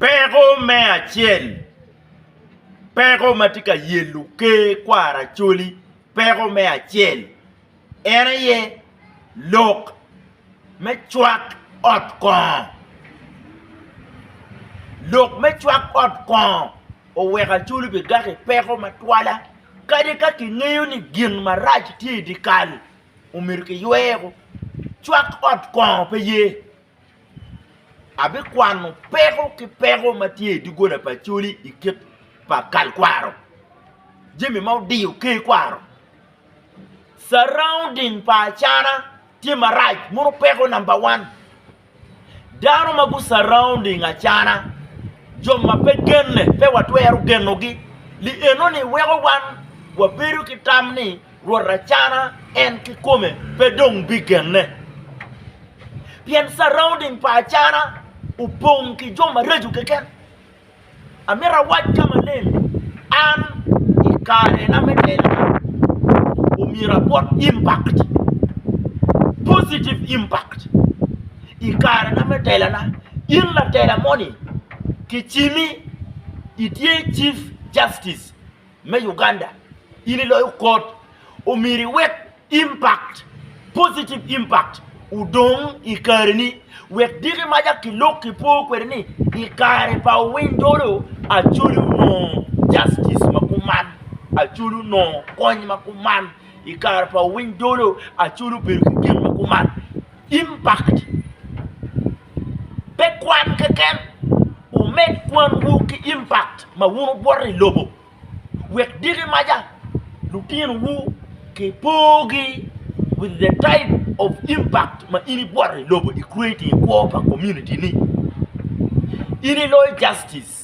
Peko me acel, peko ma tye ka yelo ker kwara Acholi peko me acel en aye lok me cwak ot kongo, lok me cwak ot kongo oweko Acholi bigak i peko matwala kadi ka kingeyo ni gin marac tye i dye kal omyero kiyweo cwak ot kongo pe ye. Abikwano peko ki peko ma tye i doggola pa Acholi i kit pa kal kwaro, jami ma odiyo ker kwaro. Surrounding pa Acana tye marac, mono peko namba wan. Dano ma gu surrounding Acana, jo ma pe genne pe watwero genogi, li enoni weko wan wabedo ki tam ni, Rwot acana en kikome pe dong bigenne, pien surrounding pa acana opong ki jo maraco keken. Amito awac ka maleng ni, an i karena me telona, omyero abwot impact, positive impact. I karena me telona, in latela moni kicimi itye Chief Justice. me Uganda in iloyo kot omyero iwek impact, positive impact odong i kareni wek diki maca ki lok ki po kwede ni i kare pa owiny dolo acwali onongo justice ma kuman acwali onongo kony ma kuman i kare pa owiny dolo acwali obedo ki gin ma kuman. Impact, Pe kwan keken, wumed kwanwu ki impact ma wun wugwoto i lobo, wek diki maca lutinowu kipogi with the type of impact ma in igwoto i lobo i creating i kwo pa community ni. In iloyo justice.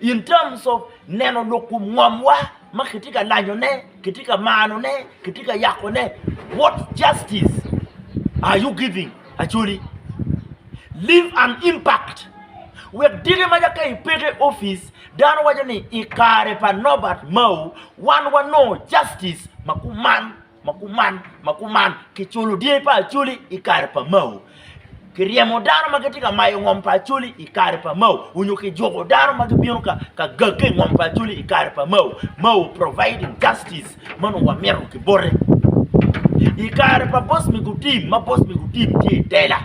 In terms of neno lok kom ngomwa ma kitye ka lanyone, kitye ka manone, kitye ka yakone, what justice are you giving Acholi? Leave an impact wek diki ma ka ipeko i opic dano waco ni i kare pa Norbert Mao wan wanongo justice ma kuman. Ma kuman, ma kuman, kiculo dyangi pa Acholi i kare pa Mao. Kiryemo dano ma gitye ka mayo ngom pa Acholi i kare pa Mao, onyo kijuko dano ma gibino ka ka gagge i ngom pa Acholi i kare pa Mao. Mao providing justice ma onongo wamito ki bote. I kare pa Boss Migutim ma Boss Migutim tye i tela,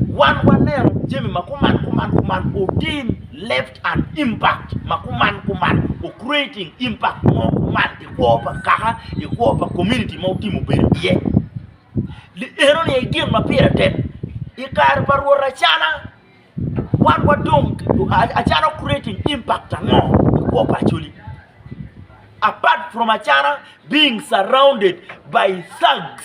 wan waneno jami ma kuman, kuman, kuman otim left and impact ma kuman, kuman o creating impact mo kuman i kwo pa kaka, i kwo pa komuniti ma wutye mubedo iye. Enoni aye gin ma pire tek. I kare pa Rwot Acana, wan wadong Acana ocreating impact ango i kwo pa Acholi? Apart from Acana being surrounded by thugs.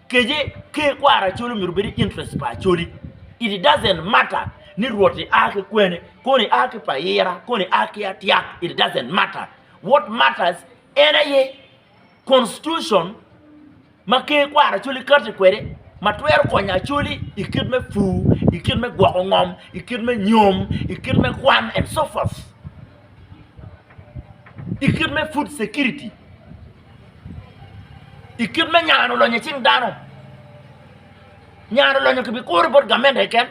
Kece, Ker kwaro Acholi myero obed i interest pa Acholi. It doesn't matter ni Rwot-ti a ki kwene, koni a ki Payira, koni a ki Atyak, it doesn't matter. What matters en aye Constitution ma Ker kwaro Acholi kati kwede ma twero konyo Acholi i kit me pur, i kit me gwoko ngom, i kit me nyom, i kit me kwan and so forth. i kit me food security i kit me nyano lonyo i cing dano nyano lonyo kibi kuro bot gamente keken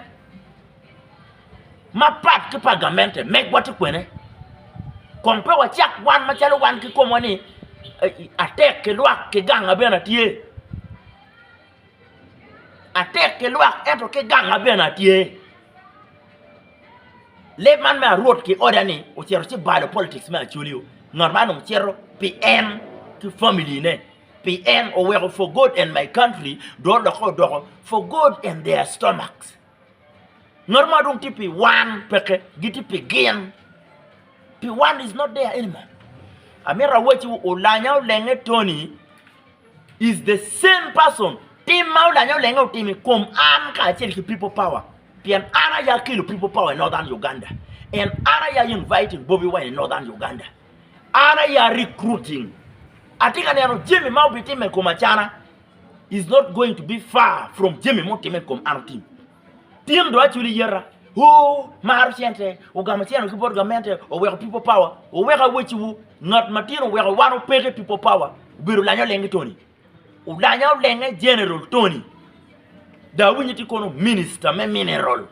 ma pat ki pa gamente megwa tye kwene kong pe wacak wan macalo wan ki komwa ni atek ki lwak ki ganga bene tye Atek ki lwak ento ki ganga bene atye. Lee man me arwot ki oda ni ocito ci balo politics me Acholi-yu, ngat man dong cito pi en ki family ne, pi en oweko for God and my country dong olokke odoko for God and their stomachs. Ngat ma dong tye pi wan peke, gitye pi gin. Pi wan is not there anymore. Amito awacciwu olanya olenge Tony is the same person. Tim ma olanya olenge otimo i kom an kacel ki people power pien an aya kelo people power i Northern Uganda and an aya inviting Bobi Wine i Northern Uganda. An aya recruiting. Atye ka neno jami ma obitimme i kom acana. is not going to be far from jami mutimme i kom an otim. Pien do acwili yeta, oo, maro cente, ogamo ceno ki bot gamente, oweko people power, oweko aweciwu, ngat matin oweko wan opeke people power, obedo olanya olenge Tony. Olanya olenge General Tony. Da awinyo ti kono minister me mineral.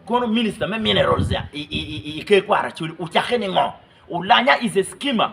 Kono minister me minerals ya, i, i, i, i, i ke kwara acwili, ucake ni ngo? Olanya is a skimmer.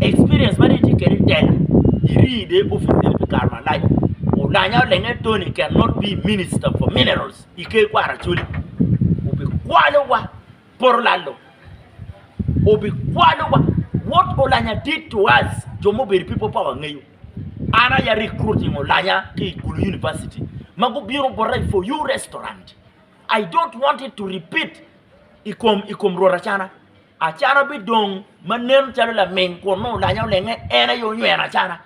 Experience ma dong itye kwede i Tela, iri dong i opic meno pi kare malac. Olanya olenge Tony can not be minister for minerals i ker kwaro Acholi. Obikwalowa poto lalo, obikwalowa. What Olanya did to us jo ma obedo i people power ngeyo. An aye a recruiting Olanya ki i Gulu University ma gubino bota i For You Restaurant. I don't want it to repeat i kom Rwot Acana. Acana bidong ma nen calo laming kun nongo olanya olenge, en aye onyweno acana.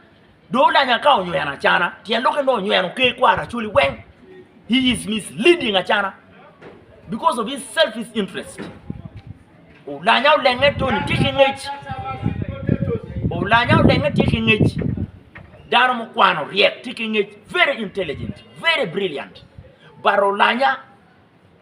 Dong olanya ka onyweno acana, tyen dok en dong onyweno ker kwaro Acholi weng. He is misleading acana because of his selfish interest. Olanya olenge toni tye ki ngec. Olanya olenge tye ki ngec. Dano mukwano ryek tye ki ngec, very intelligent, very brilliant. But olanya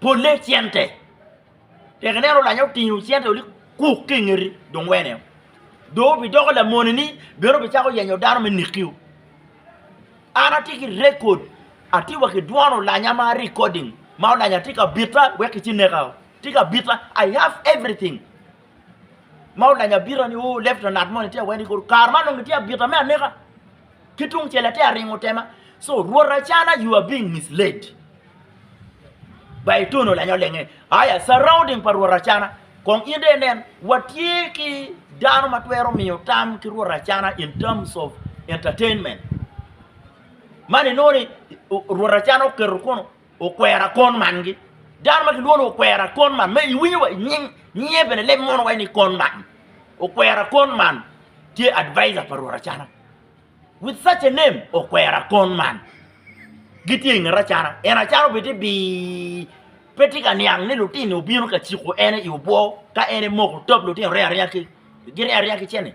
Polle cente. Tek ineno olanya otingo cente olik kuk ki ingeti dong wene o. Dong obidoko lamone ni bene obicako yenyo dano me neki o. An atye ki record, atye wa ki dwon olanya ma recording ma olanya tye ka bita wek ki ci neka o. Tye ka bita I have everything ma olanya bita ni o left na ngat moni tye awene kor kare man dong gitye abita me aneka. Ki tung cel ate aringo tema. So rwot acana you are being misled by etono lanyo lenge aya surrounding pa rwot acana kong in de nen watye ki dano ma twero miyo tam ki rwot acana in terms of entertainment man inoni rwot acana oketo kono Okwera kon man gi. Dano ma kilwongo okwera kon man, ma iwinyo wa inying nyinge bene leb mono waci ni kon man. Okwera kon man tye advisor pa Rwot Acana. With such a name, okwera kon man. Gitye i nget Acana. En Acana obedo tye bii. Pe tye ka niang ni lutino obino ka ciko en i obwo ka en emoko top lutino rye arya ki gin rye arya ki cene.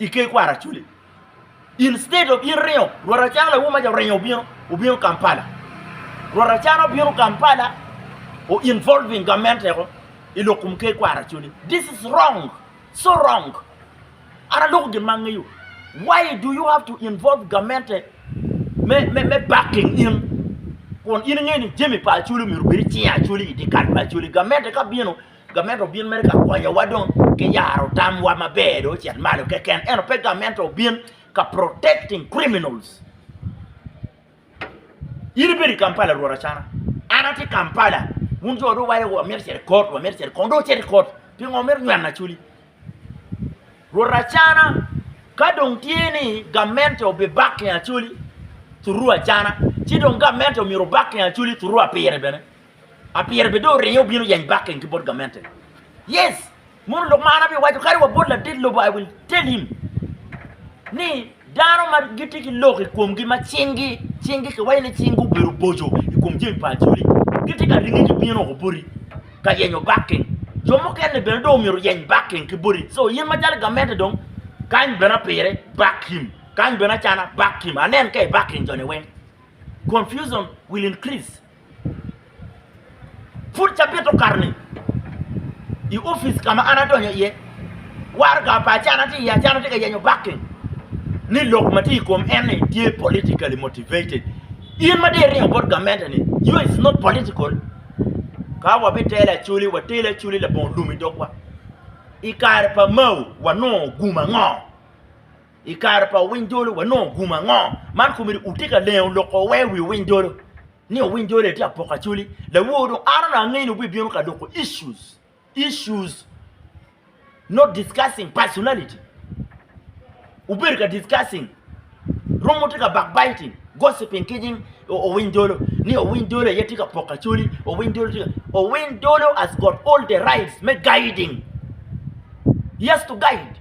I ker kwar acoli instead of in ringo rwot acana lawo maca oringo obino obino Kampala rwot acana obino Kampala o involving gamente ko i lok kom ker kwar acoli this is wrong so wrong an aloko gin ma angeyo why do you have to involve gamente me me me backing in kun in ingeyo ni jami pa acoli myero obed i cinge acoli i dye kal pa acoli gamente ka bino Gamente obin mere ka konyowa dong ki yaro tamwa maber dong ocit malo keken ento pe gamente obin ka protecting criminals. In ibedo i Kampala rwot acana, an atye i Kampala wun jo dong iwaco wamito cito i kot wamito cito i kong dong wucito i kot pingo wumito nyweno acoli? Rwot acana ka dong tye ni gamente obibakki acoli through acana ci dong gamente myero obakki acoli through apire bene. Apire bene dong oringe obino yeny backing ki bot gamente. Yes, mono lok ma an abye waco kadi wa bot ladit lobo I will tell him ni dano ma gitye ki lok I komgi ma cing gi cing gi kiwaco ni cing gi obedo boco I kom jami pa acholi gitye ka ringe ki bino oko boti ka yenyo backing. Jo mukene bene dong omyero oyeny backing ki boti so in ma calo gamente dong kany bene apire back him kany bene acana back him anen ka I backing joni weng confusion will increase. Pud cabit okato-ni, i opic ka ma an adonyo iye, waraga pa acana tye iye. Acana tye ka yenyo backing ni lok ma tye i kom en ni tye politically motivated. In ma dong iringo bot gamente-ni, you is not political? Ka wabitelo acoli, watelo acoli labongo lum i dogwa. I kare pa Mao wanongo gum ango? I kare pa owiny jolo wanongo gumo ango? Man komedi utye ka lengo loko wee wi owiny jolo ni owiny jolo etye apoko acoli lawor dong an onongo angeyo ni wubbi bino ka loko issues issues not discussing personality wubedo ka discussing rwom wutye ka back biting gossiping ki nying owiny jolo ni owiny jolo aye tye ka poko acoli owiny jolo tye ka owiny jolo has got all the rights me guiding he has to guide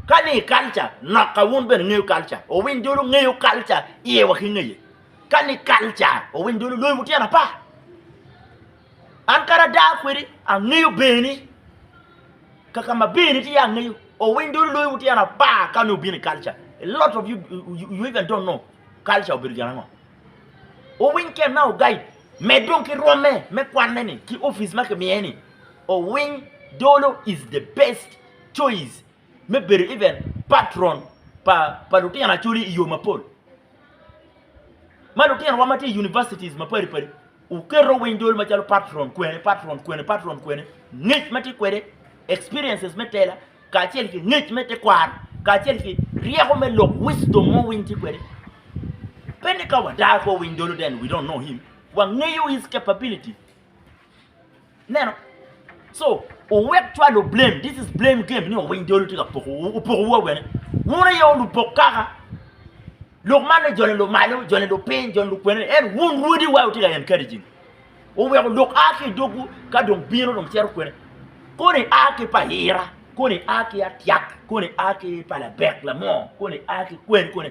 Ka ni i culture, noka wun bene ingeyo culture, owiny dulu ngeyo culture iye wa ki ngeye. Ka ni culture, owiny dulu loyo butyen apar. An kadi ada kwedi angeyo beni, kaka ma beni tye angeyo. Owiny dulu loyo butyen apar ka ni obino i culture. A lot of you, you even don't know culture obedo gin ango. Owiny kit ma ogaid med dong ki rwomme me kwanne ni ki opic ma kimiye ni owiny dolo is the best choice me bedo even patron pa lutino acholi iyo mapol ma lutino wa matye i universities mapadi padi. Wuketo winy dol macalo patron kwene, patron kwene, patron kwene, ngec ma tye kwede, experiences me tela, kacel ki ngec me tekwaro, kacel ki ryeko me lok, wisdom mo winy tye kwede. Pe ni ka wadar ko winy dolo then we don't know him. Wangeyo his capability. Ineno? So, wuwek cwalo blame, this is blame game ni owiny dolu tye ka poko wu, opoko wu awene. Wun aye wu lupok kaka. Lok man ni joni lumalo, joni lupiny, joni lukwene, en wun rwodi wa wutye ka encouraging. Wuweko lok a ki i dogwu ka dong bino dong cito kwene. Koni a ki pa ira, koni a ki atyak, koni a ki pa labek, lamor, koni a ki kwen, koni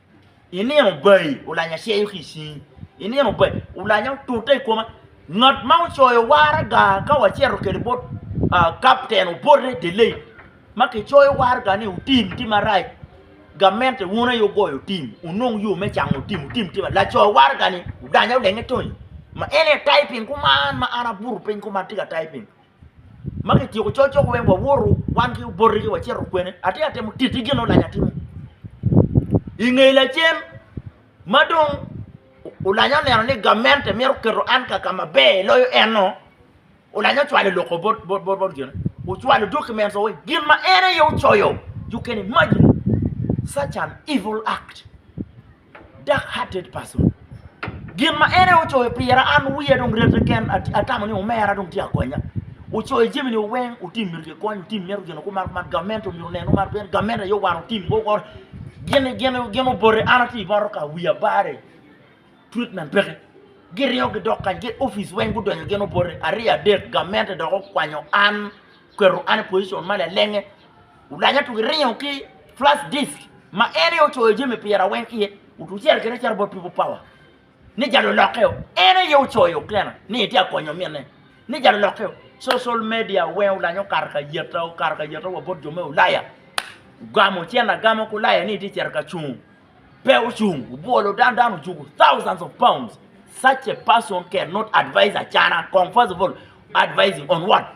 I nino bayi olanya ceyo ki i cingi, i nino bayi olanya otute i koma. Ngat ma ocoyo waraga ka wacito kwede bot kapten obote delay ma kicoyo waraga ni otim tye marac, gamente wun aye wugoyo otim wunong yo me cango otim, otim tye marac. Laco waragani odanya odenge tonye ma en aye tayo piny kuman ma an abuto piny kuman atye ka tayo piny. ma kityeko col cok weng wawoto wan ki oboti ci wacito kwene atye ka temo titi gin ma olac atimo i nge lacen ma dong olanya oneno ni gamente mito keto an ka ka maber loyo eno olanya ocwalo loko bot bot gine ocwalo documents wa weng gin ma en aye ocoyo you can imagine such an evil act. dark hearted person gin ma en aye ocoyo pira an wiya dong rete keken atamo ni omera dong tye ka konya ocoyo jami ni weng otim myero kikony otim mito gin kumaro kumaro gamente myero oneno mar pien gamente aye owaro tim go kore gin gin gin obote an atye i motoka wiya bare treatment peke giriyo gidok kany gin opic weng gudonyo gin obote aryo adek gamente dok okwanyo an oketo an i pocition ma lalenge Olaja tuge ringo ki flash disk ma en aye ocoyo jami pira weng iye, otucel kene caro bot People Power ni ja lulokke o, en aye ocoyo kene ni etye ka konyo minne ni ja lulokke o. Social media weng olaja okato ka yeta, okato ka yeta wa bot jo me ulaya, ogamo cen agama ki ulaya ni etye cito ka cung, pe ocung obwolo dano, dano ojuko thousands of pounds, such a person can not advise Acana kong first of all advising on what?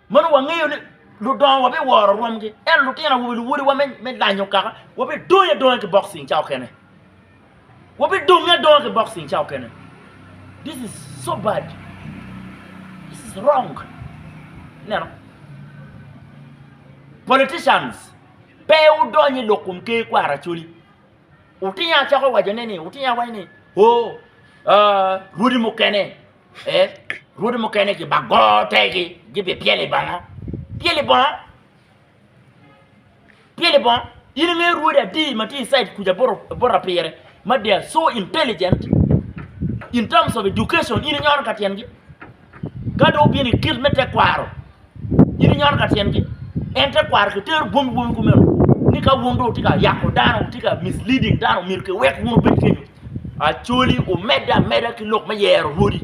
Meno wangeyo ni ludongo wabiworo rwomgi, ento lutino awobe luwodiwa me lanyo kaka wabidonyo adonga ki boxing ca okene. Wabidonge adonga ki boxing ca okene. This is so bad. This is wrong. Neno. Politicians pe udonyo i lok kom ker kwara acoli. Utino acako wacone ni, utino awaco ni, oh, uh, rwodi mukene ee rwodi mukene kibago tegi gibi pyelo i banga pyelo i bonga pyelo i bonga in ingeyo rwodi adi ma tye i cid kuca bota pire ma they are so intelligent in terms of education in inyono ka tyengi ka dong obino i kit me tekwaro Gin inyoto ka tyengi. En te kwaro ki tero bwomgi bwomgi kumeno ni ka wun dong wutye ka yako dano, wutye ka misleading dano myero kiwek wun wubed kenyu. Acholi wumedde ameda ki lok me yero rwodi.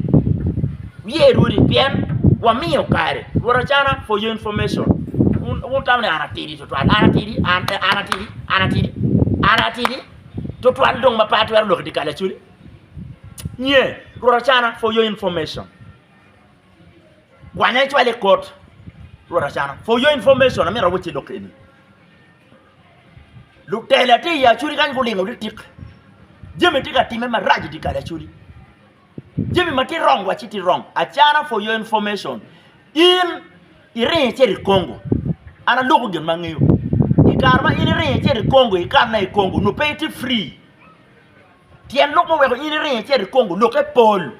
Wuye rwodi pien wamiyo kare. Rwot Acana for your information, wun wun wutamo ni an atidi twatwal, an atidi, an an atidi, an atidi, an atidi twatwal dong ma pe atwero lok i dye kal Acholi? Nye, Rwot Acana for your information. Kwanya icwal i kot Rwot Acana. For your information, amito awacci lok eni. Lutela tye i Acudi kany gulingo litik. Jami tye ka timme marac i dye kal Acudi. Jami ma tye wrong wacci tye wrong. Acana for your information, in iringo icito i Congo. An aloko gin ma angeyo. I kare ma in iringo icito i Congo, ikanna i Congo, nongo pe itye free. Tyen lok ma oweko in iringo icito i Congo lokke pol.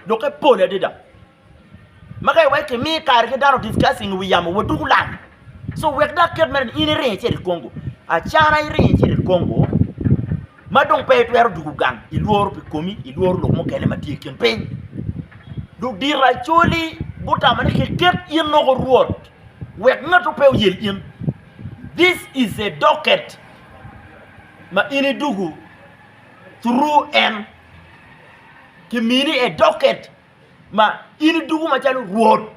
Lukke pol adada ma ka iweko imi kare ki dano discussing i wi yamo wa duku lang so wek dok ket mere ni in iringo icito i Congo acana iringo icito i Congo ma dong pe itwero duku gang ilworo pi komi ilworo lok mukene ma tye i kin piny dong diro acoli gutamo ni kiket in loko rwot wek ngatu pe oyel in this is a docket ma in iduku thuru en, kimini edoket ma in iduku macalo rwot,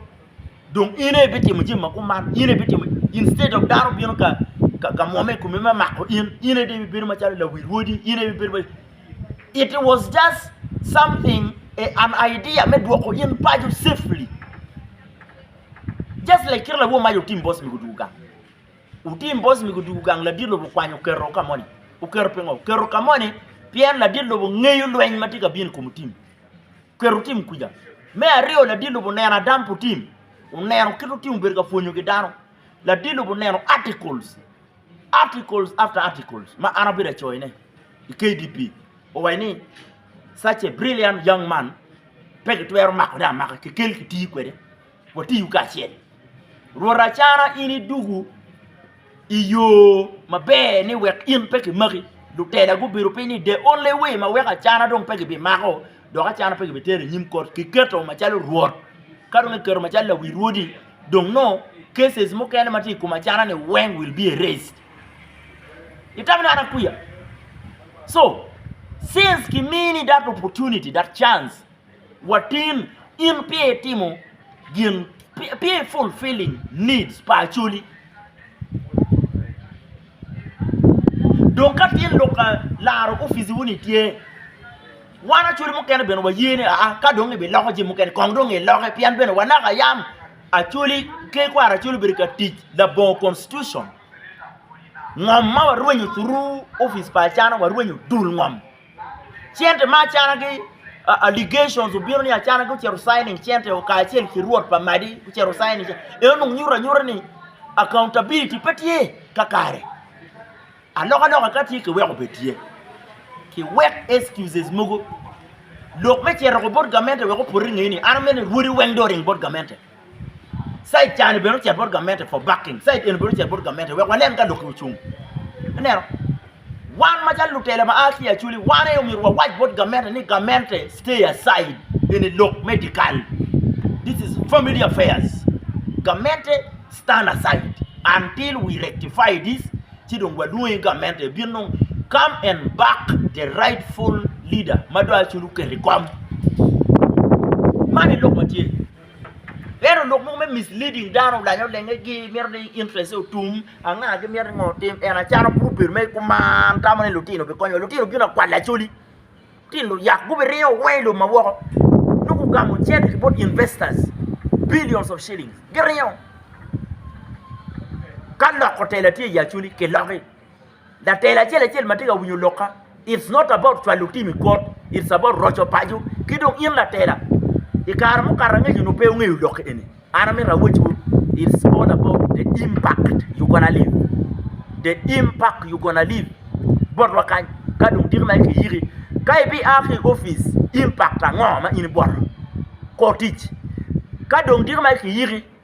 dong in aye ibitimo jami ma kuman, in aye ibitimo instead of dano bino ka mwome i kome me mako in, in aye dong ibibedo macalo lawi rwodi, in aye ibibedo macalo, it was just something an idea me dwoko in paco safely just like kit ma lawo mac otim boss me guduku gang. Wutim bos mego dwogo gang ladit lobo okwanyo oketo ka moni. Oketo pingo? Oketo ka moni pien ladit lobo ngeyo lweny ma tye ka bino i kom otim. Oketo otim kwica. Me aryo ladit lobo oneno adam pu tim. Oneno kit otim obedo ka pwonyo gi dano. Ladit lobo oneno articles. Articles after articles ma an abedo acoyo ne i KDP. Owayo ni such a brilliant young man pe ki twero mako de amaka ki kel ki tii kwede. Watiyu kacel. Rwot acara in iduku i yo maber ni wek in pe kimaki, lutela gubedo piny ni the only way ma weko acara dong pe gibimako dok acara pe gibitero i nyim kot kiketo macalo rwot ka dong kiketo macalo lawi rwodi dong nongo cases mukene ma tye i kom acara-ni weng will be erased. Itamo ni an akwiya? So, since kimini that opportunity, that chance. Watin, in pe itimo gin pe i fulfilling needs pa Acholi. Dong ka tin lok ka laro office wo ni tye wan Acholi mukene bene wa ye ni aa ka dong ibi loko jami mukene kong dong i loke pien bene wa naka yam Acholi ki kwaro Acholi obedo ka tic labongo constitution ngom ma wa rwenyo through office pa Acana wa rwenyo dul ngom. Cente ma acana ki allegations obino ni acana ki ocito signing cente o kacel ki rwot pa madi ocito signing cente eno dong nyuto anyuta ni accountability pe tye kakare alok aloka ka tye ki weko bed tye ki wek excuses mogo lok me cito ko bot gamente wek opoti i ngeye ni an amene rwodi weng dong oring bot gamente. Caitani bene ocito bot gamente for backing, Cait eni bene ocito bot gamente wek wanen ka lok-ki ocung. Ineno? Wan macalo lutela ma a ki i Acholi, wan aye omyero wawac bot gamente ni gamente stay aside, eni lok me dyekal, this is family affairs, gamente stand aside until we rectify this ci dong walwongi gamente ebin dong come and back the rightful leader ma dong Acholi oketo i kom. Man aye lok ma tye. Ento lok mogo me misleading dano olanyo lenge gi mito ni interest ne otum anga ki miti ngo otim en acalo pud obedo mere kuman tamo ni lutino bikonyo wa lutino bino akwal lacoli lutino luyak gubiringo weng ilum ma woko nongo gugamo cente ki bot investors billions of shillings giringo ka loko tela tye i ye acoli kiloki. Latela acel acel matye ka winyo lokka it's not about cwalo team i kot it's about roco paco ki dong in latela i kare mukato angeco nyo pe wungeyo lok eni an amito awec wu it's all about the impact you gonna leave the impact you gonna leave bot wa kany ka dong diki ma ikiyiki ka ibia ki i opic impact ango ma in iboto kor tic ka dong diki ma ikiyiki.